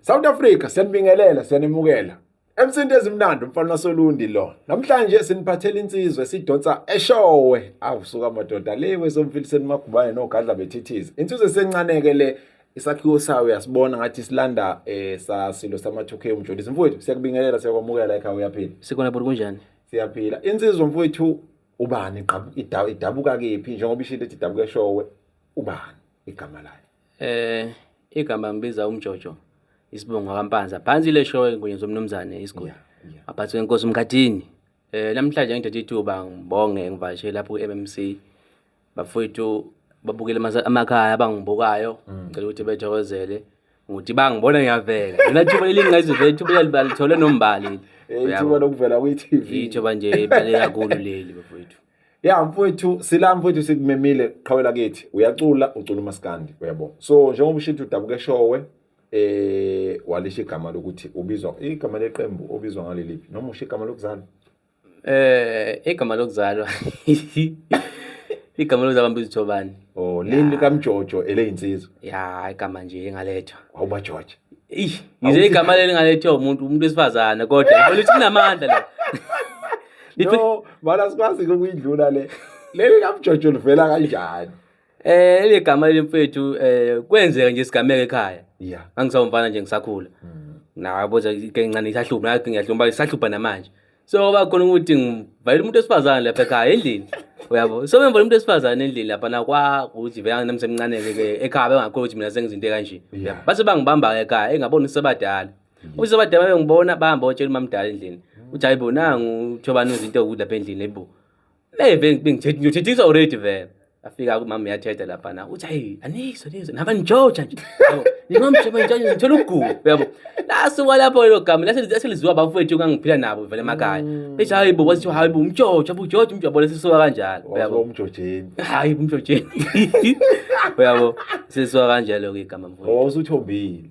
South Africa siyanibingelela siyanimukela emsindi ezimnandi umfana wasolundi lo namhlanje siniphathela insizwe sidonsa eshowe awusuka amadoda le wesomfiliseni magubane nogadla bethithiza insizwe sencaneke le isakhiwo sayo uyasibona ngathi silanda eh sasilo sama 2K umjolisi mfowethu siyakubingelela siyakwamukela ekhaya uyaphila sikhona bhuti kunjani siyaphila insizwa mfowethu ubani idabuka kephi njengoba ishilo ethi idabuka eshowe ubani igama layo Eh igama ngibiza umjojo isibongo kampanza. Phansi le show enkunye zomnumzane isiguli. Aphathwe inkosi umkhathini. Eh namhlanje ngithathe ithuba ngibonge ngivashe lapho ku-MMC. Bafowethu babukele amasa- amakhaya abangibukayo ngicela ukuthi bethokozele ngokuthi bangibona ngiyavela. Lona thuba elingingazivela ithuba elibalithola nombali. Eh, ithuba lokuvela kwi-TV. Ithuba nje ebale kakhulu leli bafowethu. ya mfowethu sila mfowethu sikumemile qhawela kithi uyacula ucula umaskandi uyabo so njengoba ushithi udabuke showe eh walisha igama lokuthi ubizwa igama leqembu obizwa ngaleliphi noma usho igama lokuzalwa eh igama lokuzalwa igama lokuzalwa mbizo Thobani oh lini lika Mjojo eleyinsizwa ya igama nje engalethwa awuba George ngize igama leli ngalethwa umuntu umuntu wesifazane kodwa ngibona ukuthi kunamandla la no bala sikwazi ukuyidlula le leli kamjojo livela kanjani eh le gama lemfethu eh kwenzeka nje sigameke ekhaya yeah angisawumfana nje ngisakhula mm. nabo nje ke ncane isahlupha nathi ngiyahlumba isahlupha namanje so bakhona ukuthi ngivayile umuntu esifazane lapha ekhaya endlini uyabo so bemvona umuntu esifazane endlini lapha nakwa ukuthi vele namsemncane ke ekhaya bengakhona ukuthi mina sengizinto kanje base bangibamba ekhaya engabona usebadala Mm. Uzoba daba bengibona bahamba otshela umamdala endlini. Mm. Uthi hayibo nangu uthobani uzinto ukudla phe endlini hayibo. Hey bengithethe ngithethiswa already vele. Afika kumama yathetha lapha na. Uthi hayi anizwe nizwe naba njoja nje. Ngimamsheba nje ngithola ugugu yabo. Laso walapho lo gama lase lizwa bafowethu kangiphila nabo vele emakhaya. Mm. Bethi hayibo wathi hayibo umjoja bujoja umjobo lesisuka kanjalo. Yabo umjojeni. Hayi umjojeni. Yabo sisuka kanjalo ke gama mfowethu. Wawusuthombile.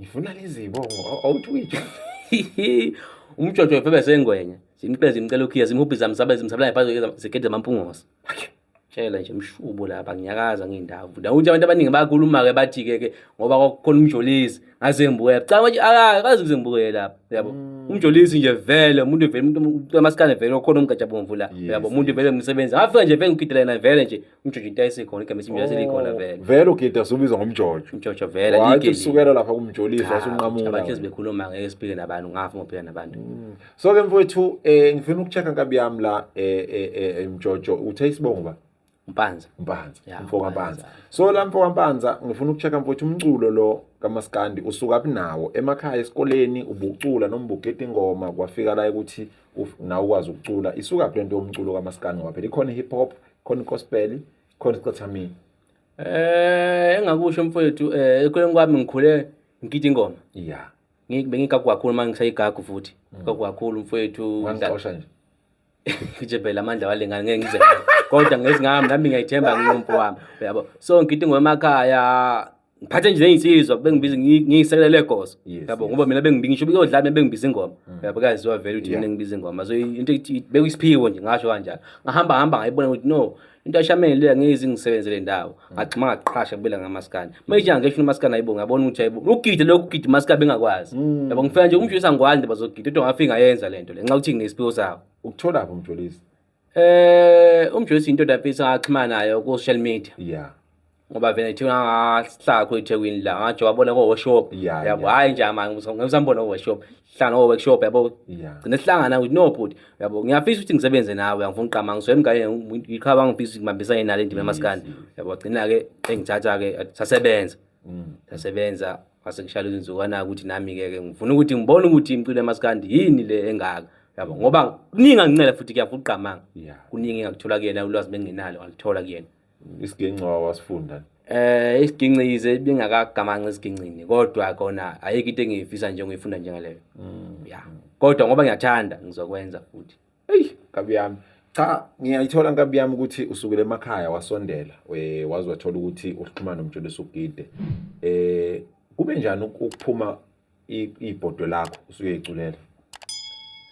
ngifuna lezibongo awutwitsha umjojo wefebe sengwenye simqeza imcela ukhiya simhubhi zami sabe zimsabela phansi zegede zamampungosa tshela nje mshubo lapha ngiyakaza ngiyindawo futhi awuthi abantu abaningi bayakhuluma-ke bathi-ke ke ngoba kwakukhona umjolisi ngaze ngibukela canga ukuthi akazi kuze ngibukele lapha uyabo mm. umjolisi nje vele umuntu vele umuntu amasikane vele okhona umgajabomvu la uyabo umuntu vele umsebenzi ngafika nje vele ngigidela yena vele nje umjojo into ayisekhona igama esimbi yaselikhona oh, vele vele ugidi asubizwa ngomjojo umjojo vele wathi kusukela lapha kumjolisa wasunqamula abantu ezibekhuluma ngeke siphike nabantu ngafa ngophika nabantu mm. so ke mfowethu eh ngifuna ukuchecka nkabi yami la eh, eh, eh emjojo uthe isibongo ba Mpanza Mpanza mfo kaMpanza so la mfo kaMpanza ngifuna ukuchecka mfowethu umculo lo kamaskandi usuka kunawo emakhaya esikoleni ubucula noma ubugeda ingoma kwafika la ukuthi nawe ukwazi ukucula isuka kulento yomculo kamaskandi ngoba phela ikhona hip hop khona ukospeli khona isicathamile eh engakusho mfowethu eh ekhuleni kwami ngikhule ngigida ingoma ya bengigagu kakhulu manje ngisayigagu futhi mm. gagu kakhulu mfowethu ngixosha nje ngije phela amandla walengane ngeke ngize kodwa ngezingami nami ngiyayithemba ngiyomfo wami uyabo so ngigida ingoma emakhaya ngiphathe nje neyinsizwa bengibiza ngiyisekela legozo yabo ngoba mina bengingisho ukuyodlala mina bengibiza ingoma mm. yabo kaziwa vele ukuthi mina ngibiza ingoma so into bekuyisiphiwo nje ngasho kanjalo ngahamba hamba ngayibona ukuthi no into ayishamele leya ngezi ngisebenzele ndawo mm. ngagxima ngaqhasha kubela ngamaskana manje mm. ngisho umaskana ayibo ngabona ukuthi ayibo ugide lokhu ugide umaskana bengakwazi yabo ngifela nje umshisa ngwazi bazogida into ngafika yenza lento le nxa ukuthi nginesphiwo sawo ukuthola phi umjolisi Eh umjoyisi into dafisa axhumana nayo ku social media. Yeah. Ngoba vele thi ngahlala khona eThekwini la ngathi wabona ko workshop. Yeah, Yabo yeah. hayi nje manje ngisambona ko workshop. Hlala no workshop yabo. Yeah. Gcine sihlangana with no bhuti. Yabo ngiyafisa ukuthi ngisebenze nawe angifuni uqama ngizwe mngane ngiqhaba ngifisa ukuthi ngibambisane nale ndima emaskani. Yabo gcina ke engithatha ke sasebenza. Mm. Sasebenza ngase ngishayela uzinzukwana ukuthi nami ke ke ngifuna ukuthi ngibone ukuthi imculo yamaskandi yini le engaka yabo ngoba kuningi angincela futhi kuyavuka uqamanga kuningi engakuthola kuyena ulwazi benginalo ngalithola kuyena isiginci wasifunda eh isigincize bingakagamanci isigincini kodwa kona ayikho into engiyifisa nje ngiyifunda njengaleyo mm. ya kodwa ngoba ngiyathanda ngizokwenza futhi eyi nkabi yami cha ngiyayithola nkabi yami ukuthi usukele emakhaya wasondela eh, waze wathola ukuthi uxhumana nomjolisi ugide eh kube njani ukuphuma ibhodwe lakho usuke iculela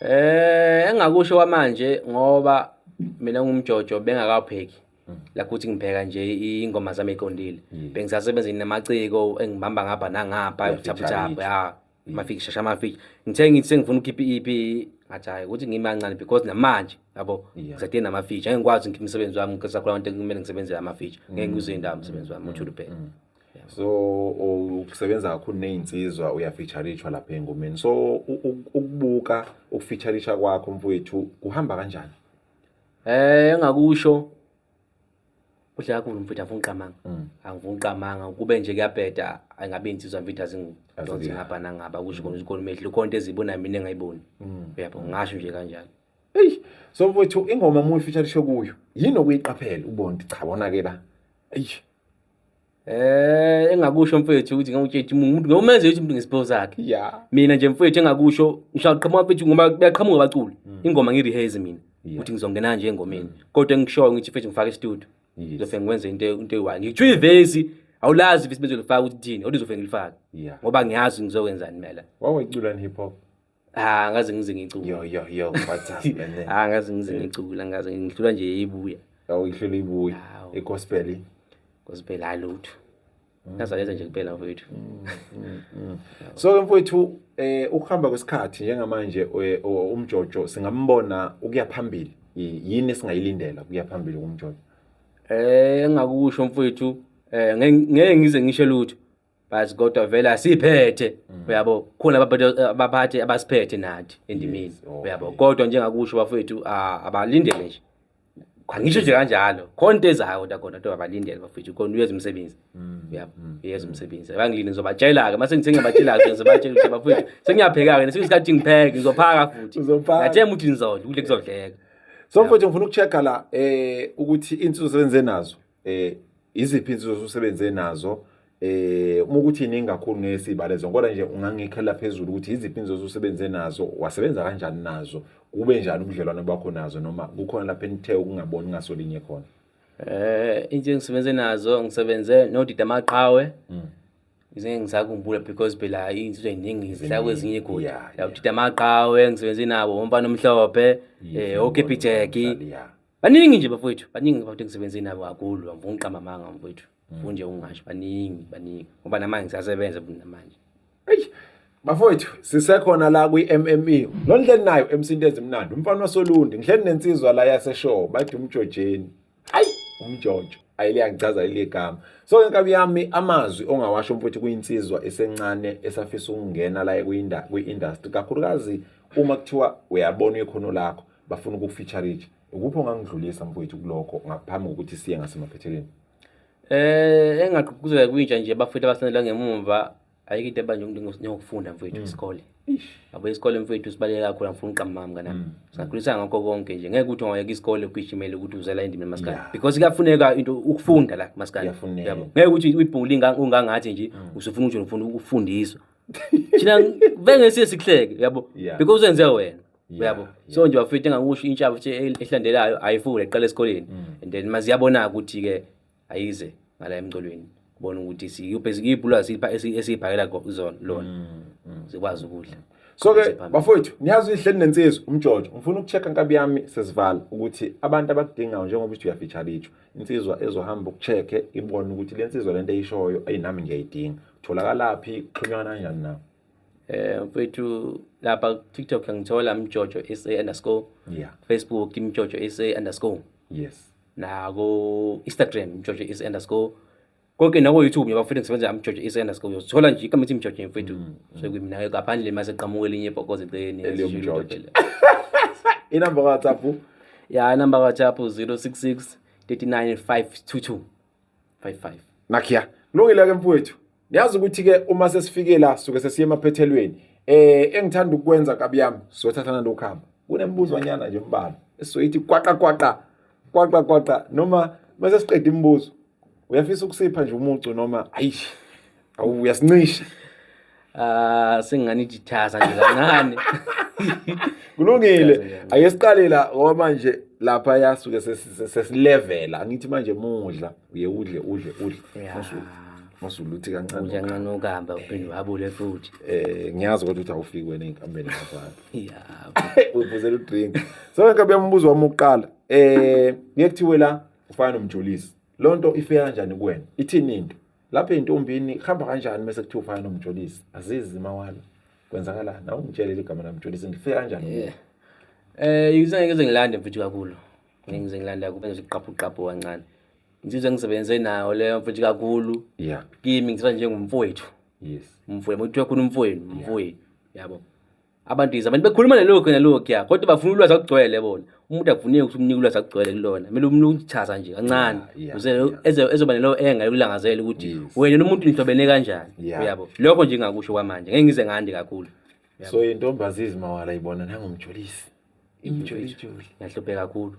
eh engakusho kwamanje ngoba mina ngumjojo bengakapheki la kuthi ngibheka nje ingoma zami eqondile bengisasebenzini namaciko engibamba ngapha nangapha uthaphuthaphu ya mafiki shasha mafiki ngithe ngithi sengifuna ukhipha iEP ngathi hayi ukuthi ngimancane because namanje yabo ngisadinga nama feature ngeke ngikwazi ngikhiphe umsebenzi wami ngikhetha khona into kumele ngisebenzele ama feature ngeke ngize indawo umsebenzi wami uthule phela so ukusebenza kakhulu nezinsizwa uyafeaturishwa lapha engomeni so ukubuka ukufeaturisha kwakho mfowethu kuhamba kanjani eh engakusho Kuhle kakhulu mfethu afuna uqamanga. Mm. Angifuna uqamanga kube nje kuyabheda angabe insizwa mfethu azingidonsi ngapha nangaba kusho khona isikole mehlo konke ezibona mina engayiboni. Mm. Uyabo ngasho nje kanjalo. Eyi so mfethu ingoma mu feature lisho kuyo. Yini okuyiqaphela ubona cha wona ke la. Eyi Eh engakusho mfethu ukuthi ngawutshela umuntu ngomenze ukuthi umuntu ngesipho sakhe. Yeah. Mina nje mfethu engakusho ngishaqhamuka mfethu ngoba kuyaqhamuka abaculi. Mm. Ingoma ngi rehearse mina. Ukuthi ngizongena nje engomeni. Mm. Kodwa engishoyo ngithi mfethu ngifake studio. Ngizofike ngwenze into into eyi-one. Ngitshwa ivesi awulazi ivesi benzolifaka ukuthi thini, olizofike ngilifake. Yeah. Ngoba ngiyazi ngizokwenzani mina la. Wawecula hip hop. Ah ngaze ngize ngicula. Yo yo yo what's up man. Ah ngaze ngize ngicula ngaze ngidlula nje ibuya. Awuyihlula ibuya. Igospel. Gospel hayi lutho. Ngazaleza nje kuphela mfowethu. So ke mfowethu eh ukuhamba kwesikhathi njengamanje eh, umjojo singambona ukuya phambili. Yini esingayilindela ukuya phambili kumjojo? Eh engakusho mfowethu eh ngeke ngize ngisho lutho. but kodwa vele asiphethe mm. uyabo khona abaphathi abasiphethe nathi endimini uyabo kodwa njengakusho bafowethu abalindele nje angisho nje kanjalo khona into ezayo kodwa khona kodwa abalindele bafowethu khona uyeza umsebenzi mm. uyabo mm. uyeza umsebenzi abangilini ngizobatshela-ke uma sengithi ngiyabatshela-ke ngizobatshela ukuthi bafowethu sengiyapheka-ke nesinye isikhathi ngipheke ngizophaka futhi ngathemba ukuthi ngizodla ukudla kuzodleka so mfowethu ngifuna uku-check-a la um ukuthi iy'nsuku sebenze nazo eh iziphi insizwa osusebenze nazo eh uma ukuthi iningi kakhulu ngeke sibale zonke kodwa nje ungangikhela phezulu ukuthi iziphi insizwa osusebenze nazo wasebenza kanjani nazo kube njani ubudlelwano bakho nazo noma kukhona lapho enithe ukungaboni ngasolinye khona eh into engisebenze nazo ngisebenze nodida amaqhawe mm. ngizenge ngisakumbula because phela izinto eziningi zidla kwezinye igoli la udida amaqhawe ngisebenze nabo umfana omhlophe eh okepijeki baningi nje bafowethu baningi bafowethu engisebenze nabo kakhulu angifuni uqamba amanga mfowethu ngifuni nje ungasho baningi baningi ngoba namanje ngisasebenza namanje eyi bafowethu sisekhona la kwi-mme lo ndleni nayo emsinto ezimnandi umfana wasolundi ngihleli nensizwa la yaseshow bathi umjojeni ayi umjojo ayiliyangichaza iligama so ke nkabi yami amazwi ongawasho mfowethu kuyinsizwa esencane esafisa ukungena la kwi-industry kakhulukazi uma kuthiwa uyabona ikhono lakho bafuna ukukufeaturage ukuphi ongangidlulisa mfowethu kulokho ngaphambi kokuthi siye ngasemaphethelweni eh engaqhuquzela kwintsha nje bafethu abasendela ngemumva ayike into ebanje umuntu ngokufunda mfowethu mm. isikole yabo isikole mfowethu sibaleke kakhulu angifuni uqamama kanami mm. singakhulisa ngakho konke nje ngeke ukuthi ungayeka isikole ugijimele ukuthi uzela endimi maskandi because kuyafuneka into ukufunda la maskandi yabo ngeke ukuthi uyibhuli ungangathi nje mm. usufuna ukuthi ufuna ukufundiswa thina bengesiye sikuhleke yabo because uzenze wena uyabo so nje bafethu engakusho intsha futhi ehlandelayo ayifunde iqala esikoleni mm. and then maziyabona ukuthi ke ayize ngala emcolweni bona ukuthi siyibhulwazi esiyibhakela zona lona mm, mm. zikwazi ukudla so ke bafowethu niyazi ihleli nensizwa umjojo ngifuna ukuchecka nkabi yami sesivala ukuthi abantu abakudingayo njengoba uthi uyafeature itsho insizwa ezohamba ukuchecke ibone ukuthi le nsizwa lento eyishoyo ayinami ngiyayidinga tholakalaphi xhunywana kanjani nawo Eh mfethu lapha TikTok ngithola mjojo SA underscore. Yeah. Facebook mjojo SA underscore. Yes. Nako Instagram mjojo SA underscore. Konke nako YouTube ngiba futhi ngisebenza am mjojo SA underscore. Uyothola nje igama ethi mjojo mfethu. Mm, mm. So kumina ngaphandle mase qhamuke linye ibhokoze eceleni. Eliyomjojo. Inamba ka WhatsApp. Yeah, inamba ka WhatsApp 066 39522. 55 nakhiya kulungile ke mfowethu niyazi ukuthi ke uma sesifike la suke sesiye emaphethelweni eh engithanda ukwenza kabi yami siyothathana lokuhamba kunembuzwanyana nje mbala esizoyithi kwaqa kwaqa kwaqa kwaqa noma mase siqeda imibuzo uyafisa ukusipha nje umucu noma ayish awu uyasincisha ah sengani jithaza nje kancane kulungile ake siqale la ngoba manje lapha yasuke sesilevela angithi manje mudla uye udle udle udle masuluthi kancane uya kancane okamba uphinde wabule futhi eh ngiyazi ukuthi awufiki wena inkambeni ngafana yeah ubuzela udrink so ngeke bembuzo wami uqala eh ngeke kuthiwe la ufana nomjolisi lonto ifika kanjani kuwena ithini into lapha entombini hamba kanjani mase kuthiwa ufana nomjolisi azizi mawala kwenzakalani awungitshelele igama lamjolisi ngifike kanjani yeah. eh yizange ngeze ngilande mfethu kakhulu ngize ngilanda kube ngiziqaphu qaphu kancane ngizizwe ngisebenze nayo leyo mfethu kakhulu yeah kimi ngizizwa njengomfowethu yes umfowethu muthiwa khona umfowenu umfowenu yabo yeah. abantu yize abantu bekhuluma nalokhu nalokhuya kodwa bafuna ulwazi akugcwele bona umuntu akufuneki ukuthi umnike ulwazi akugcwele kulona kumele umnike ukuchaza nje kancane uze ezoba nelo enga yokulangazela ukuthi wena nomuntu nihlobene kanjani uyabo lokho nje ngakusho kwamanje ngeke ngize ngandi kakhulu so intombazi izimawala ibona nangomjolisi imjolisi yahluphe kakhulu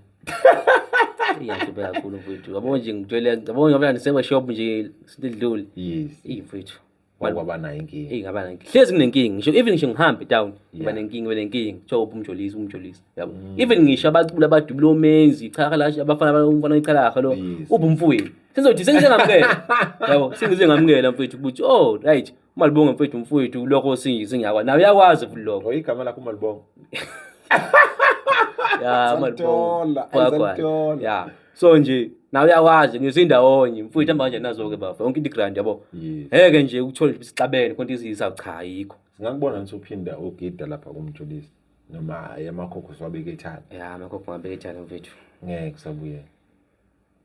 iyahluphe kakhulu mfowethu yabo nje ngitshele yabo ngoba nisebe shop nje sidlule yes imfowethu wakwaba nayo inkinga eyi ngaba nenkinga hlezi kunenkinga ngisho even ngisho ngihambe town ngiba nenkinga ngiba nenkinga kuthiwa uphi umjolisi umjolisi yabo mm. even ngisho abaculi abadubula omenzi ichaha la abafana abafana ichalaha lo uphi umfowethu sengizothi sengize ngamukela yabo sengize ngamukela mfowethu ukuthi oh right umalibonga mfowethu umfowethu lokho singiyakwa nawe uyakwazi futhi lokho igama lakho umalibonga ya umalibonga ya so nje nawe uyakwazi ngiyoze indawonye mfowethu hamba kanjani nazo-ke bafo yonke into igrand yabo Yes. ngeke nje uthole nje sixabene konke izisa cha ayikho Singakubona ngithi uphinda ugida lapha kumjulisi noma hayi amakhokho siwabeke ethana. ya amakhokho ngibeke etshala mfethu Ngeke kusabuyela.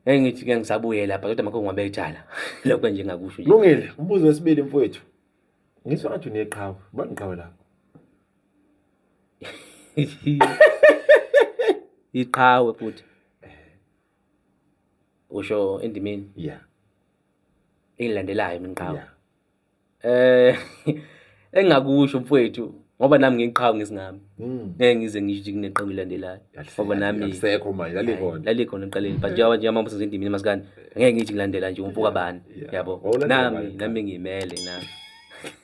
ngeke ngithi ke ngisabuye lapha kodwa amakhokho ngibeke etshala lokho nje engakusho nje Lungile, umbuzo wesibili mfowethu. Ngisho ngathi uneqhawe, bani iqhawe lakho? iqhawe futhi usho endimeni yeah engilandelayo mina iqhawe eh engingakusho mfowethu ngoba nami ngiqhawe ngesingami hmm. ngeke ngize ngisho kuneqhawe elandelayo ngoba nami lisekho manje lalikhona lalikhona eqaleni but njengoba nje amambuzo endimini masikani ngeke ngithi ngilandela nje umfuka bani yabo nami nami ngimele nami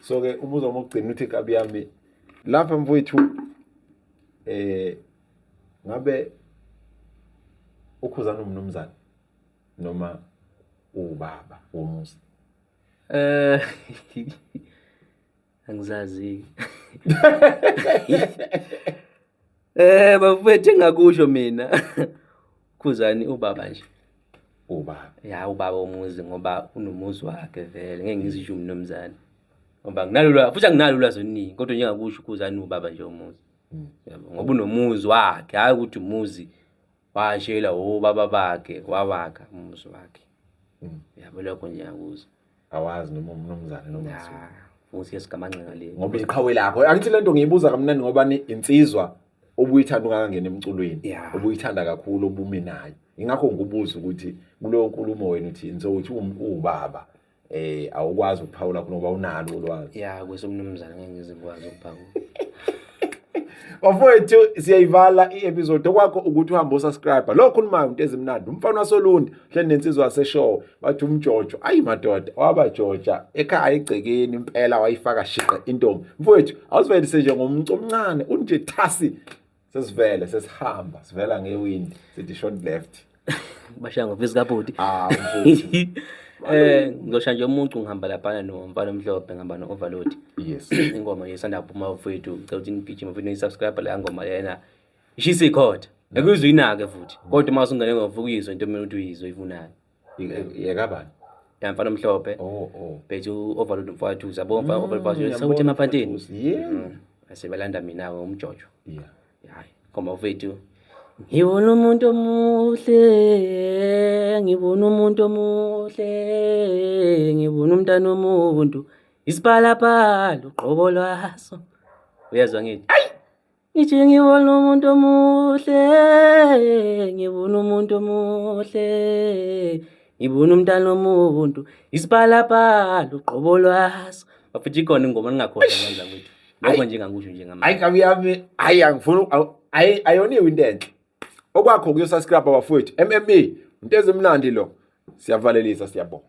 so ke ubuza uma ugcina uthi kabi yami lapha mfowethu eh ngabe ukhuzana umnumzane noma ubaba womuzi eh angizazi Eh bafethu engakusho mina. Khuzani ubaba nje. Ubaba. Ya ubaba omuzi ngoba unomuzi wakhe vele ngeke ngizisho umnomzana. Ngoba nginalula futhi anginalula zoningi kodwa njengakusho ukhuzani ubaba nje omuzi. Hmm. Yabo ngoba unomuzi wakhe hayi ukuthi umuzi washela ubaba bakhe wawakha umuzi wakhe mm. yabo lokho nje yakuza awazi noma umnumzane noma futhi esigamanxenga le ngoba iqhawe lakho angithi lento ngiyibuza kamnandi ngoba ni insizwa obuyithanda ungakangena emculweni obuyithanda kakhulu obume nayo ingakho ngikubuza ukuthi kuleyo nkulumo wena uthini so uthi uwubaba eh awukwazi ukuphawula khona ngoba unalo ulwazi ya kwesomnumzane ngeke ngizikwazi ukuphawula bafowethu siyayivala i-episode okwakho ukuthi uhambe usubscribe lo khulumayo into ezimnandi umfana wasolundi hleli nensizwa yaseshow wathi umjojo ayi madoda wabajoja ekhaya egcekeni impela wayifaka shiqe intombi mfowethu awuzivelise nje ngomntu omncane unje thasi sesivele sesihamba sivela ngewindi sithi short left bashaya ngofisi kabhuti ah eh ngizosha nje umuntu ngihamba laphana nomfana omhlophe ngihamba no-overload yes ingoma yesanda kuphuma mfowethu ngicela ukuthi nigijime mfowethu nisubscribe leya ngoma lena ishisa ikhotha akuyizwa inake futhi kodwa uma usungene ngovuka uyizwa into ekumele ukuthi uyizwe ivunayo yekabani ya mfana omhlophe oh, oh. bethi u-overload mfowethu zabo mfana mm, overload sewuthi emapantini mm. asebelanda mina-ke umjojo hayi khomba ufethu ngibona umuntu omuhle ngibona umuntu omuhle ngibona umntana omuntu isipalapala uqobo lwaso uyezwa ngithi ayi Ngithi ngibona umuntu omuhle, ngibona umuntu omuhle, ngibona umntana omuntu, isipalapala uqobo lwaso. Bafethu ikhona ingoma ningakhona ngandla kwethu. Lokho nje ngakusho nje ngamanje. Hayi kabi yami, hayi angifuni hayi ayoniwe into enhle. Okwakho kuyosascribe bafowethu. MME, into ezimnandi lo. Siyavalelisa siyabonga.